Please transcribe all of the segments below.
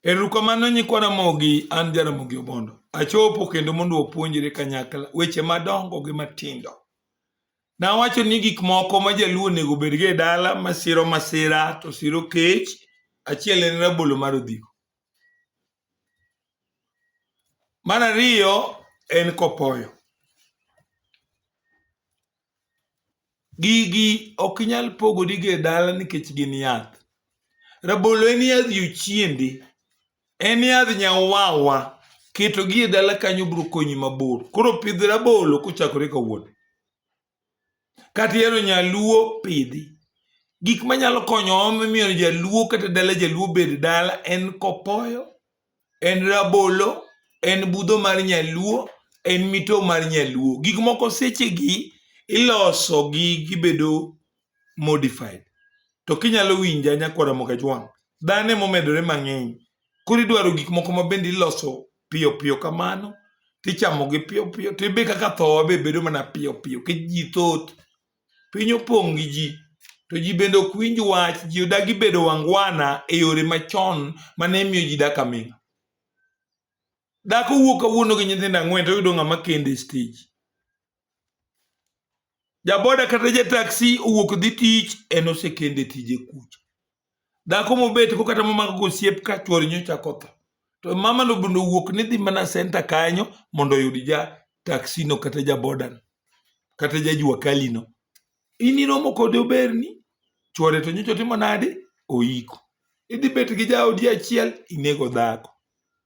Erukamano nyikwa Ramogi, an Jaramogi Obondo. Achopo kendo mondo wapuonjre kanyakla weche madongo gi matindo. Nawacho ni gik moko ma jaluo onego obedgo e dala masiro masira to siro kech, achiel en rabolo mar odhigo. Mar ariyo en kopoyo. Gigi ok inyal pogori go e dala nikech gin yath. Rabolo en yadh jochiende, en yadh nyawawa, ketogi e dala kanyo biro konyi mabor. Koro pidh rabolo kochakore kawuono. Kata ihero nyaluo, pidhi. Gik manyalo konyo omiyo jaluo kata dala jaluo obed dala en kopoyo. en rabolo en budho mar nyaluo en mito mar nyaluo gik moko sechegi iloso gi gibedo modified to kinyalo winja nyakwara mokajwang' dhano emomedore mang'eny koro idwaro gik moko ma bende iloso piyo piyo kamano tichamogi piyo piyo to ibe kaka thowa be bedo mana piyo piyo kech ji thoth Piny opong' gi ji, to ji bende ok winj wach. Ji odagi bedo wangwana e yore machon mane miyo ji dak aming'a. Dhako wuok kawuono gi nyithindo ang'wen to oyudo ng'ama kende stage. Jaboda kata jataksi owuok dhi tich en osekende tije kucha. dhako mobet ko kata momako gosiep ka chwore nyocha kotho to mama no bende owuok ni dhi mana senta kanyo mondo oyud ja taksino kata ja bodan kata ja jua kalino in iromo kode oberni chwore to nyocha otimo nade oiko idhi bet gi jaodi achiel inego dhako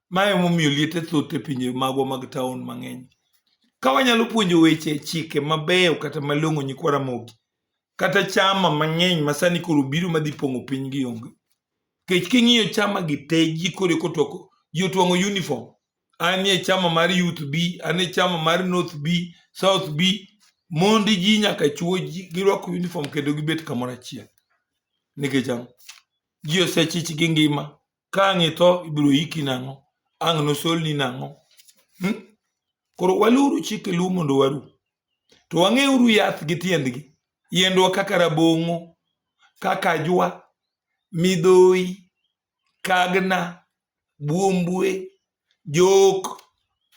ma emomiyo liete thoth e pinje magwa mag taon mang'eny ka wanyalo puonjo weche chike mabeyo kata malong'o nyikwa ramogi kata chama mang'eny masani koro biro madhi pong'o piny gi onge kech king'iyo chama gi te ji kore kotoko ji otwang'o uniform anie chama mar youth b anie chama mar north b south b mondi ji nyaka chuo ji girwako uniform kendo gibet kamoro achiel nikech ang'o ji osechich gi ngima ka ang' itho ibiro yiki nang'o ang' nosolni nang'o hmm? koro waluru chike luo mondo waru to wang'euru yath gi tiendgi yiendwa kaka rabong'o kaka ajwa midhoyi kagna buombue jok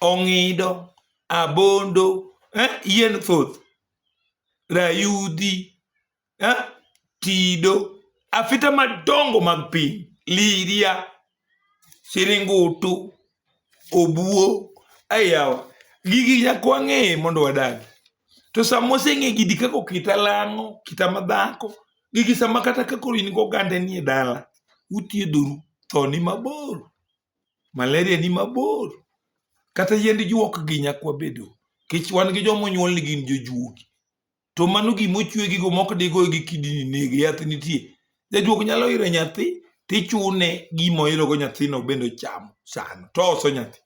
ong'ido abondo eh? yien thoth rayudhi eh, Tido, afita madongo mag piny, Liria, Siringutu, Obuo, ayawa gigi nyaka wang'e mondo wadagi to sama oseng'e gidi kaka kita lang'o kita madhako gigi sama kata kakoro in gogande nie dala uthiedhoru tho ni mabor malaria ni mabor kata yiend juok gi nyakwa bedo kech wan gi joma onyuol ni gin jojuogi to mano gima ochwegigo ma ok digoyo gi kidini nege yath nitie jajuok nyalo iro nyathi tichune gima oirogo nyathino bende ochamo sano to oso nyathi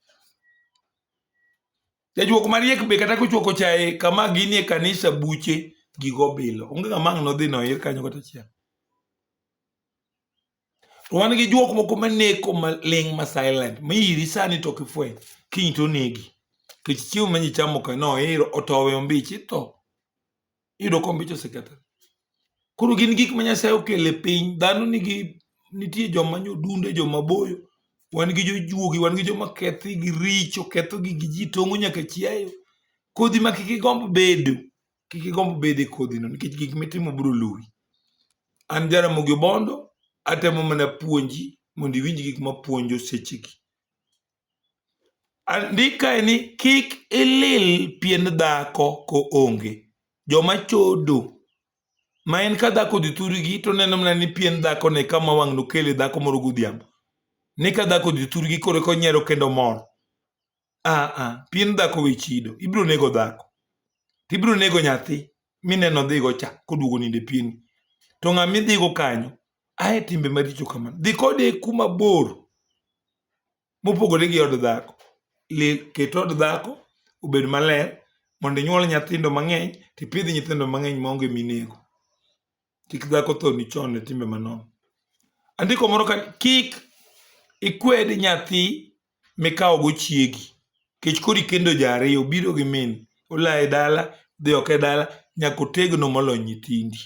jajuok mariek be kata kochuoko chaye kama gini e kanisa buche gigo bilo onge ng'ama ang' nodhi noir kanyo kata achiel to wan gi jok moko maneko maling' ma silent ma iri sani to kifweny kiny to onegi kech chiemo ma nyichamo ka no iro otowe ombich itho iyudo ka ombich osekethore koro gin gik ma nyasaye okelo e piny dhano nigi nitie joma nyodunde joma boyo wan gi jojuogi wan gi joma kethi gi richo ketho gi gi ji tong'o nyaka chiayo kodhi ma kik igomb bedo kik igomb bedo e kodhino nikech gik mitimo biro luwi. An Jaramogi Obondo atemo mana puonji mondo iwinj gik mapuonjo sechegi. Andikae ni kik ilil pien dhako ko onge. Joma chodo ma en ka dhako odhi thurgi to neno mana ni pien dhako ne kama wang' nokele dhako moro godhiambo. Ni ka dhako odhi thurgi koro konyiero kendo mor. ah, ah, pien dhako we chido ibiro nego dhako to ibiro nego nyathi mineno dhigo cha koduogo ninde pieni to ng'ama idhigo kanyo ae timbe maricho kamano dhi kode kuma bor mopogore gi od dhako ket od dhako obed maler mondo inyuol nyithindo mang'eny tipidh nyithindo mang'eny maonge minego kik dhako thoni chon e timbe manono. Andiko moro ka kik ikwed nyathi mikawo go chiegi kech koro ikendo ji ariyo obiro gi min ola e dala dhi oko e dala nyaka otegno molo nyithindi.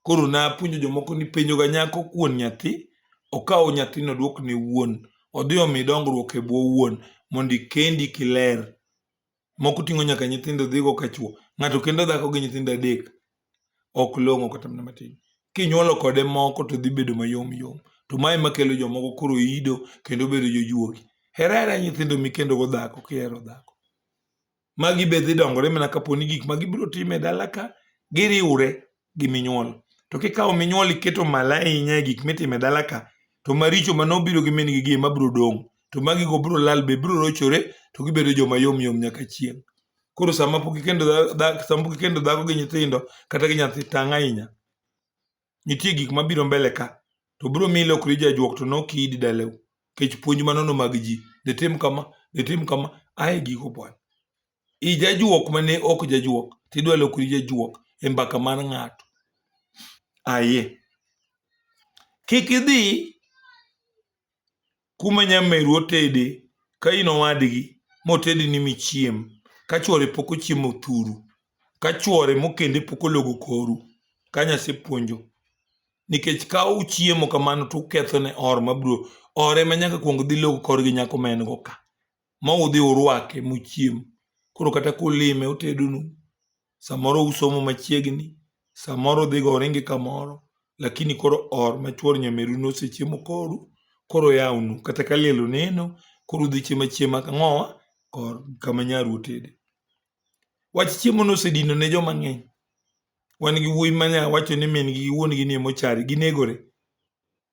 Koro napuonjo jomoko ni penjo ga nyako kuon nyathi okaw nyathino odwok ne wuon odhi omi dongruok e bwo wuon mondo ikendi kiler Moko ting'o nyaka nyithindo dhigo ka chwo. Ng'ato kendo dhako gi nyithindo adek. Ok long'o kata mana matin. Kinyuolo kode moko to dhi bedo mayom yom. To mae makelo jomoko koro ido kendo bedo jojuogi. Hera hera nyithindo mikendo go dhako kihero dhako. Magi be dhi dongore mana kapo ni gik ma gibiro timo e dala ka giriwre gi minyuol. To kikawo minyuol iketo malo ahinya e gik mitimo e dala ka, to maricho mane obiro gi min-gi gi ema biro dong'. To magigo biro lal be biro rochore to gibedo joma yom yom nyaka chieng'. Koro sama pok ikendo sama pok ikendo dhako gi nyithindo kata gi nyathi tang' ahinya. Nitie gik mabiro mbele ka, to biro miyo ilokri jajuok to nok iidi dalau. Nikech puonj manono mag ji, ditim kama, ditim kama, ae giko pwany. ijajuok ma ne ok jajuok to idwa lokori jajuok e mbaka mar ng'ato. Aye. Kik idhi kuma nyameru otede ka in owadgi motedi ni michiem ka chwore pok ochiemo thuru ka chwore mokende pok ologo koru ka nyasepuonjo nikech ka uchiemo kamano to ukethone or mabiro ore ma nyaka kuong dhi log kor gi nyako ma en go ka ma udhi urwake mochiem. Koro kata kulime otedonu, samoro usomo machiegni, samoro udhiga uringi kamoro, lakini koro or ma chwor nyameru nosechiemo kodu, koro oyawonu. Kata ka liel oneno, koro udhi chiemo achiema kang'owa or kama nyaru otede. Wach chiemo nosedino ne joma ng'eny. Wan gi wuoyi ma nya wacho ni min gi gi wuon gi ni emochari, ginegore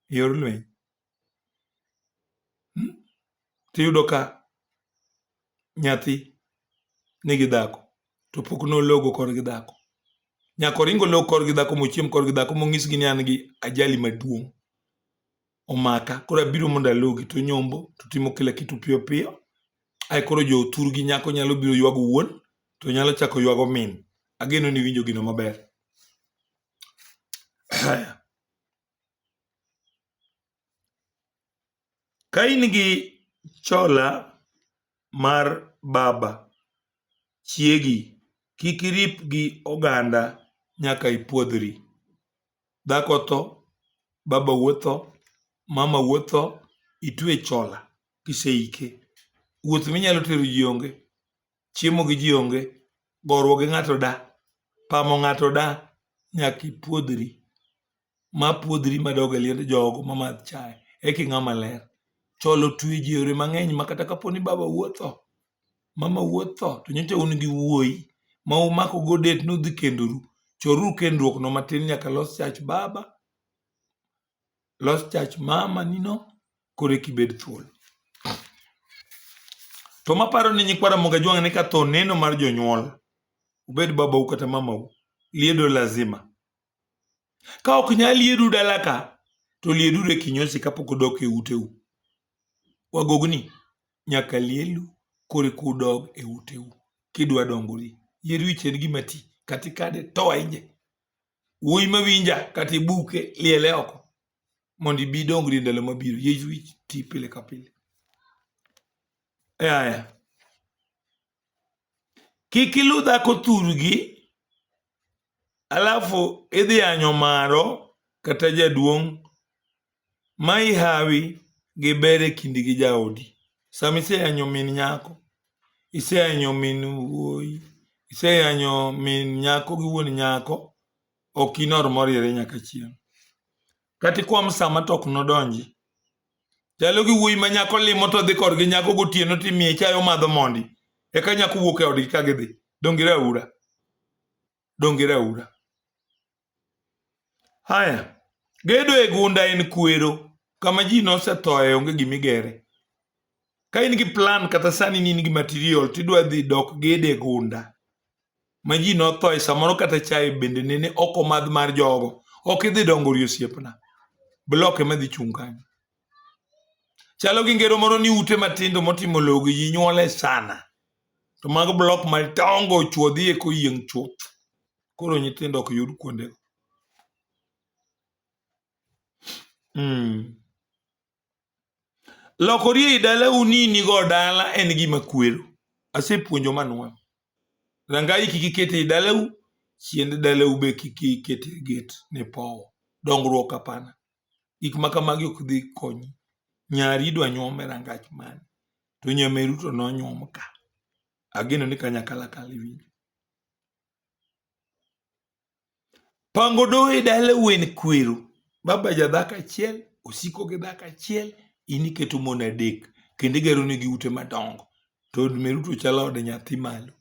e yor lweny. hmm? tiyudo ka nyathi nigi dhako to pok nologo kor gi dhako nyaka oringo log kor gi dhako mochiem kor gi dhako monyisgi ni an gi ajali maduong' omaka koro abiro mondo alogi to nyombo to timo kila kitu piyo piyo ae koro jo otur gi nyako nyalo biro ywago wuon to nyalo chako ywago min ageno ni winjo gino maber Ka in gi chola mar baba chiegi, kik irip gi oganda nyaka ipwodhri. Dhako otho, babau otho, mamau otho, itwe chola kiseike. Wuoth minyalo tero ji onge. chiemo gi ji onge, goruok gi ng'ato da, pamo ng'ato da, nyaka ipuodhri. Ma puodhri ma dog e liend jogo ma madh chae, eki ng'a maler. Chol otwe ji e yore mang'eny ma kata kapo ni baba wuo otho, mama wuo otho, to nyocha un gi wuoyi ma umako go date ni udhi kendoru, choruru kendruokno matin nyaka los chach baba Los chach mama nino koro eki bed thuolo. To maparo ni nyikwa Ramogi Ajwang' ni ka tho neno mar jonyuol, ubed babau kata mamau, liedo lazima. Ka ok nyal liedu dala ka, to lieduru e kinyosi kapok udok e uteu. Wagogni nyaka lielu koro eka udog e uteu kidwa dongori. Yieru ichien gima ti kata ikade to wainje. wuoyi mawinja kata ibuke liele oko mondo ibi dongri ndalo mabiro yesu ti pile ka pile aya kik ilu dhako thurgi alafu idhi anyo maro kata jaduong' ma ihawi gi ber e kindi gi jaodi. Sama iseyanyo min nyako, iseyanyo min wuoyi, iseyanyo min nyako gi wuon nyako, ok inor moriere nyaka chieng'. Kata ikwa msama to ok nodonji. Chalo gi wuoyi ma nyako limo to dhi korgi nyako gotieno to imiye chayo madho mondi. Eka nyako wuok e odgi ka gidhi. Donge raura? Donge raura? Haya, gedo e gunda en kwero kama ji nosethoe onge gima igere. Ka in gi plan kata sani ni in gi material tidwa dhi dok gedo e gunda ma ji nothoe samoro kata chae bende nene ok omadh mar jogo ok idhi dongo ori osiepna blok ema dhi chung' kanyo chalo gi ngero moro ni ute matindo motimo logo ji nyuole sana to mago blok madongo chuodhi e koyieng' chuth koro nyithindo ok yud kuondego. Mm. Lokori ei dalau ni inigo dala en gima kwero. Asepuonjo manwang'. Rangai kik iket ei dalau, chiend dalau be kik iket e get ne powo. Dongruok hapana. Gik ma kamagi ok dhi konyi. Nyari idwa nyuom e rangach mane? To nyameru to nonyuom ka. Ageno ni kanyakalakal iwinjo. Pango doho e dala wen kwero. Baba ja dhako achiel, osiko gi dhako achiel, in iketo mon adek. Kendo igero negi ute madongo. To od meru to chalo od nyathi malo.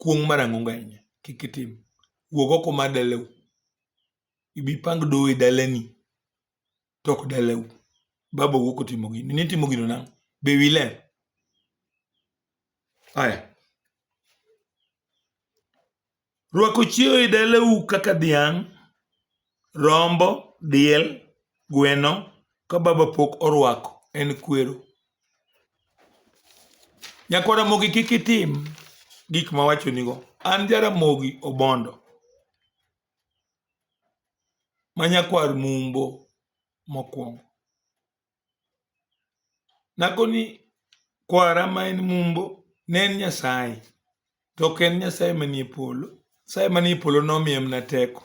Kuong' marang'o nganya, kik itim. Wuog oko mar dalau. Ibi pang doho e dalani. to ok dalau. Baba wuok otimo gini. Nitimo gino nang'o? Be wi ler? Aya. Rwako chiewo e dalau kaka dhiang', rombo, diel, gweno ka baba pok orwako en kwero. Nyakwara mogi kik itim gik ma wachonigo. An Jaramogi Obondo. ma nyakwar Mumbo mokwongo. Nakoni kwara ma en Mumbo ne en Nyasaye, to ok en Nyasaye manie polo. Nyasaye manie polo nomiye mana teko.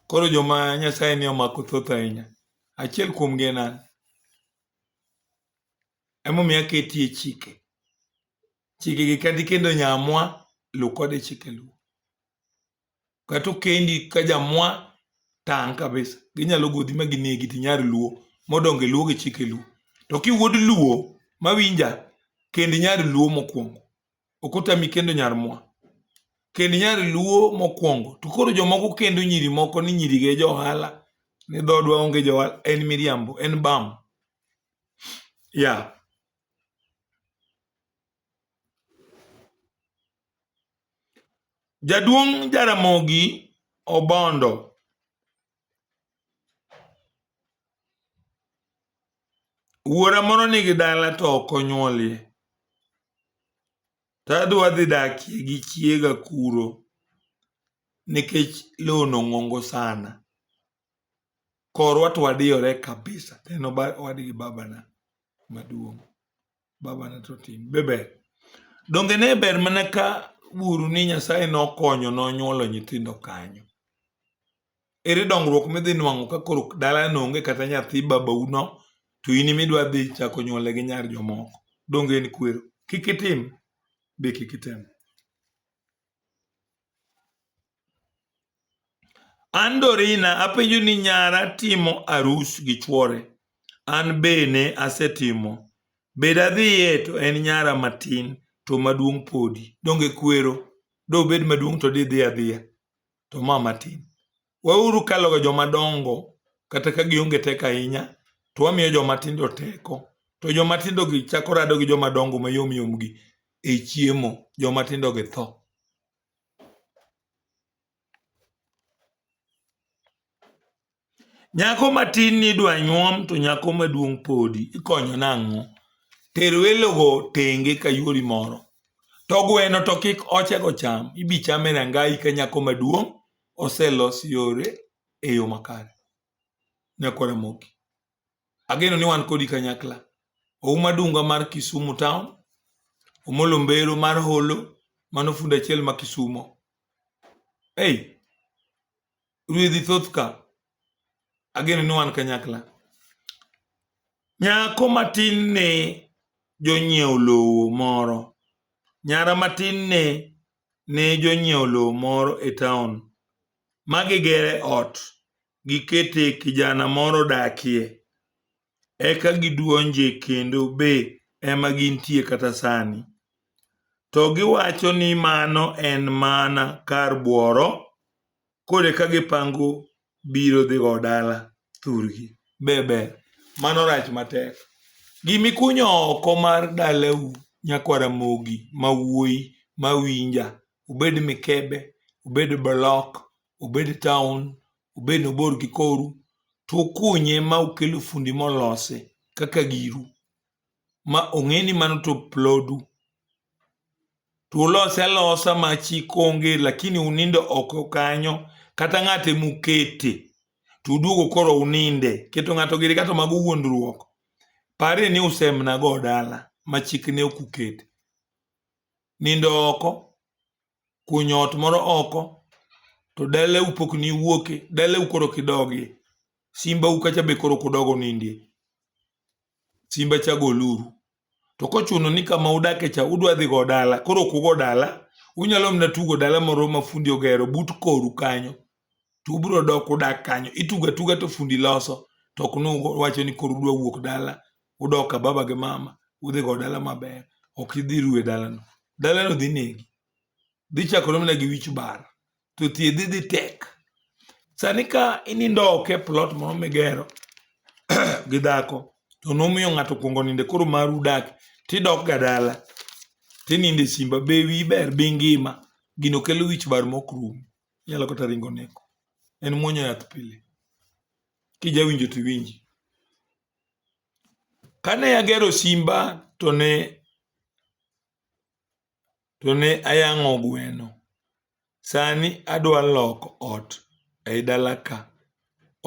Koro joma Nyasaye ni omako thoth ahinya, achiel kuomgi en an. Emomiyo aketie chike. Chikegi kadi kendo nyamwa, lu kode chike luo. kata okendi ka jamwa tang' kabisa ginyalo godhi ma ginegi to inyar luo modonge luo gi chike luo to kiwuod luo mawinja kend nyar luo mokwongo ok otami kendo nyar mwa kend nyar luo mokwongo to koro jomoko kendo nyiri moko ni nyiri gi e johala ni dhodwa onge johala en miriambo en bam ya yeah. Jaduong' Jaramogi Obondo wuora moro nigi dala to ok onyuolie to adhi wadhi dakie gi chiega kuro nikech lowono ng'ongo sana. Korwa to wadiyore kabisa to en owadgi babana maduong'. Baba ne to tim. Be ber. Donge ne ber mana ka uru ni Nyasaye nokonyo nonyuolo nyithindo kanyo. Ere dongruok midhi nwang'o ka koro dala nonge kata nyathi babauno to in midwa dhi chako nyuole gi nyar jomoko. Donge en kwero. Kik itim. Be kik item. An Dorina apenjo ni nyara timo arus gi chuore. An be ne asetimo. Be dadhiye to en nyara matin to maduong' podi. Donge kwero? Dobed maduong' to didhi adhiya. To ma matin. Wauru kaloga joma dongo kata ka gionge teko ahinya, to wamiyo joma tindo teko. To joma tindogi chako rado gi joma dongo mayom yomgi e chiemo, joma tindogi tho. Nyako matin ni idwa nyuom to nyako maduong' podi, ikonyo nang'o? Ter welogo tenge ka yuori moro. To gweno to kik ochego cham, ibichame rangai ka nyako maduong' oselos yore e yo makare ne kod Ramogi. Ageno ni wan kodi kanyakla. Ouma Dunga mar Kisumu Town, Omolo Mbero mar Holo, mano fundi achiel ma Kisumo. Ei, ruedhi thoth ka. Ageno ni wan kanyakla. Nyako matin ne jonyiewo lowo moro. Nyara matin ne ne jonyiewo lowo moro e taon ma gigere ot, gikete kijana moro dakie, eka giduonje kendo be ema gintie kata sani. To giwacho ni mano en mana kar bworo koro eka gipango biro dhi go dala thurgi be ber mano rach matek gimikunyo oko mar dalau nyakwara mogi ma wuoyi ma winja obed mikebe obed blok obed town obed nobor gi koru to ukunye ma ukelo fundi molose kaka giru ma ong'e ni mano to plodu to ulose alosa ma chik onge lakini unindo oko kanyo kata ng'ate mukete to uduogo koro uninde keto ng'ato giri kato mago wuondruok pare ni usemna go dala ma chik ne ok ukete nindo oko kunyo ot moro oko to dala u pok ni wuoke dala u koro kidogie simba u kacha be koro kudogo nindie simba cha goluru to kochuno ni kama udake cha udwa dhi go dala koro kugo dala unyalo mna tugo dala moro ma fundi ogero but koru kanyo to ubro dok udak kanyo ituga tuga to fundi loso to ok nu wacho ni koro udwa wuok dala udok ka baba gi mama udhi go dala maber ok idhi ruwe dalano dalano dhi negi dhi chakore mana gi wich bar to thiedhi dhi tek sani ka inindo ok e plot moro migero gi dhako to nomiyo ng'ato kuongo ninde koro maru dak tidok ga dala tininde simba be wi ber bi ngima gino kelo wich bar mok rum inyalo kata ringo neko en muonyo yath pile kijawinjo to iwinji Kane agero simba to ne to ne ayang'o gweno. Sani adwa loko ot ei dala ka.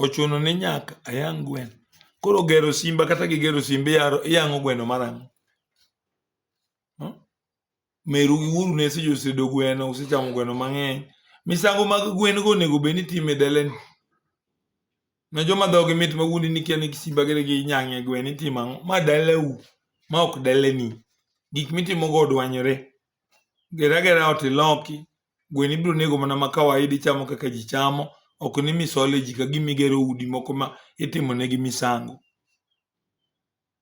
Ochuno ni nyaka ayang' gweno? Koro gero simba kata gigero simba iyaro- iyang'o gweno mar ang'o? meru gi wuoru ne osetedo gweno, usechamo gweno mang'eny. Misango mag gwen go onego bed ni itimo e dalani. Ne joma dhogi mit ma wuondi ni kia ni simba gere gi nyang'e gweno itimo ang'o? Ma dalau, ma ok dalani. Gik mitimo go odwanyore. Gera gera ot iloki, gweno ibiro nego mana ma kawaida ichamo kaka ji chamo, ok ni misole ji ka gima igero udi moko ma itimo negi misango.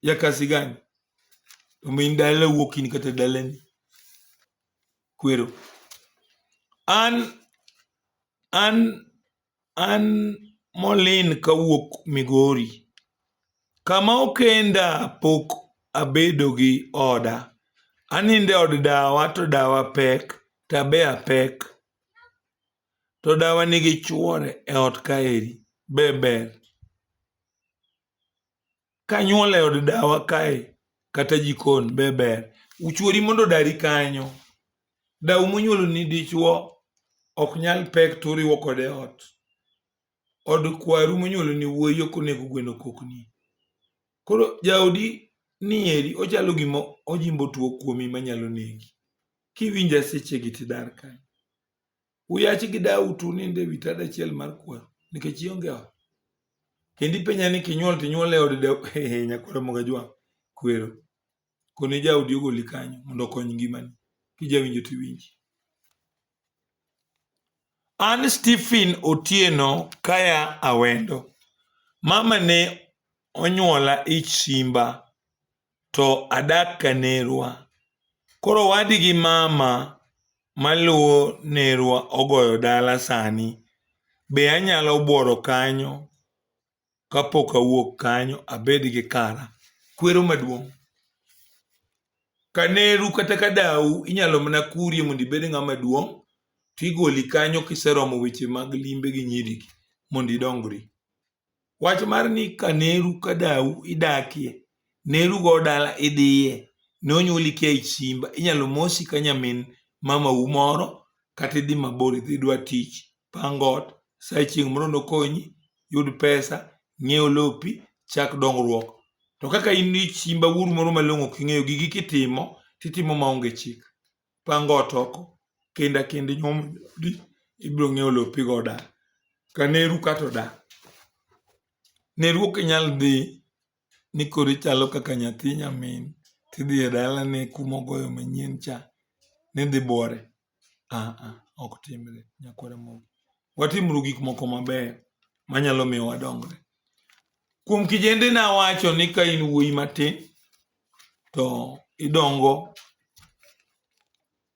ya kasi gani omin dala wuok in kata dalani kwero an an an molin kawuok migori kama okenda pok abedo gi oda aninde od dawa to dawa pek tabea pek to dawa nigi chuore e ot kaeri beber kanyuol e od dawa kae kata jikon be ber uchuori mondo odari kanyo dawu monyuolo ni dichuo ok nyal pek to uriwo kode ot od kwaru monyuolo ni wuoyi ok onego gweno kokni koro jaodi nieri ochalo gima ojimbo tuo kuomi manyalo negi kiwinje sechegi tidar kanyo uyachi gi dawu to unindo e wi tad achiel mar kwaru nikech ionge ot kendo ipenja ni kinyuol to inyuol e od nyakwara mogajwa kwero koni jaodi ogoli kanyo mondo okony ngimani kijawinjo to iwinji an stephen otieno kaya awendo mama ne onyuola ich simba to adak ka nerwa. Koro owadi gi mama maluwo nerwa ogoyo dala sani, be anyalo buoro kanyo kapok awuok kanyo abed gi kara? Kwero maduong'. Ka neru kata ka dawu inyalo mana kurie mondo ibed ng'ama duong' tigoli kanyo kiseromo weche mag limbe gi nyirigi mondo idongri. Wach mar ni ka neru ka dau idakie, neru go dala idhiye, ne onyuoli kia e simba, inyalo mosi ka nyamin mamau moro kata idhi mabor idhi idwa tich, pang ot, sa chieng' moro nokonyi, yud pesa, ng'iew lopi, chak dongruok. To kaka in ni simba wuoru moro malong'o ok ing'eyo, gigi kitimo, titimo maonge chik. pango ot oko kendo akendo nyuomo joodi ibiro ng'eyo lopi goda ka neru kata oda neru ok inyal dhi ni koro ichalo kaka nyathi nyamin tidhi e dalane kuma ogoyo manyien cha ni dhi bwore aa ok timre nyakwar Ramogi. Watimuru gik moko mabeyo manyalo miyo wadongre. Kuom kijende nawacho ni ka in wuoyi matin to idongo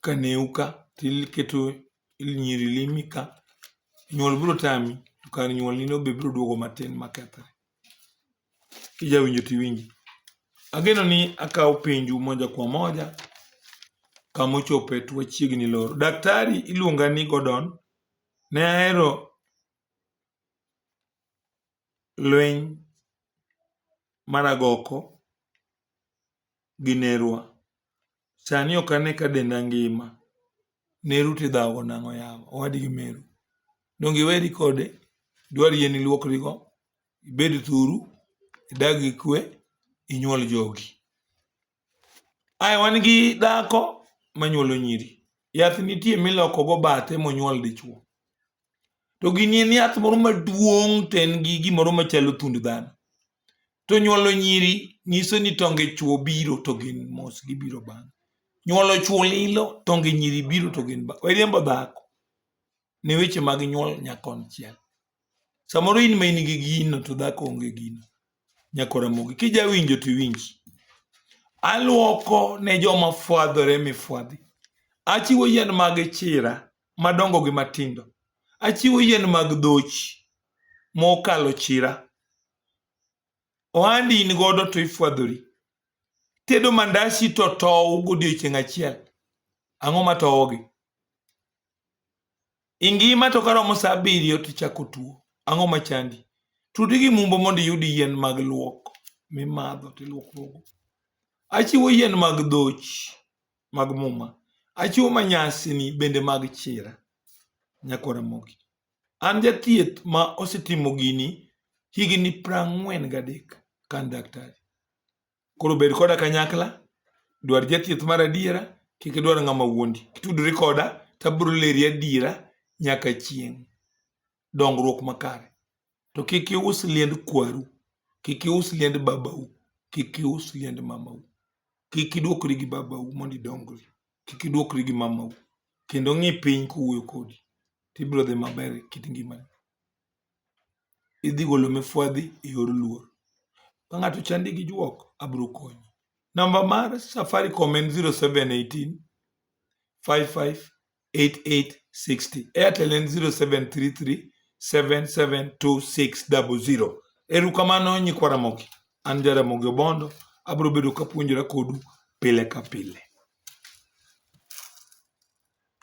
ka new ka tiketo nyiri limi ka nyuol biro tami to kar nyuol nino be biro duogo matin makethre kijawinjo tiwinji ageno ni akawo penju moja kwa moja kama ochope to wachiegni loro daktari iluonga ni Gordon ne ahero lweny mar agoko gi nerwa. Sani ok ane ka denda ngima. Neru to idhawogo nang'o yawa owadgi meru. Donge iweri kode? Dwari en iluokrigo, ibed thuru, idag gi kwe, inyuol jogi. Aya wan gi dhako manyuolo nyiri. Yath nitie miloko go bathe monyuol dichuo. To gini en yath moro maduong' to en gi gimoro machalo thund dhano. To nyuolo nyiri nyiso ni tonge chuo biro to gin mos gibiro bang'. Nyuolo chuo lilo, tonge nyiri biro to gin bang'. Wariembo dhako ne weche mag nyuol nya konchiel. Samoro in ma in gi gino to dhako onge gino. Nyako Ramogi, kija winjo to iwinj. Aluoko ne joma fwadhore mifwadhi. Achiwo yien mag chira madongo gi matindo. Achiwo yien mag dhoch mokalo chira. Ohandi in godo to ifwadhori. Tedo mandasi to tow godiechieng' achiel. Ang'o ma towogi? ingima to karomo sa abiriyo to ichako tuo ang'o machandi tudi gi mumbo mondo iyud yien mag luok mimadho to iluokruogo achiwo yien mag dhochi mag muma achiwo manyasini bende mag chira nyako ramogi an jathieth ma osetimo gini higni prang'wen gadek ka an daktari Koro bed koda kanyakla, dwar jathieth mar adiera, kik idwar ng'ama wuondi. Kitudori koda, tabro leri adiera nyaka chieng'. Dongruok makare. To kik ius liend kwaru, kik ius liend babau, kik ius liend mamau. Kik idwokri gi babau mondo idongri, kik idwokri gi mamau. Kendo ng'i piny kowuoyo kodi, tibro dhi maber e kit ngimani. idhi golo mifwadhi e yor luor. Ka ng'ato ochandi gi juok, abiro konyi. Namba mar Safaricom en 0718 55 8860. Airtel en 0733 772600. Erokamano nyikwa Ramogi. An Jaramogi Obondo, abiro bedo kapuonjora kodu pile ka pile.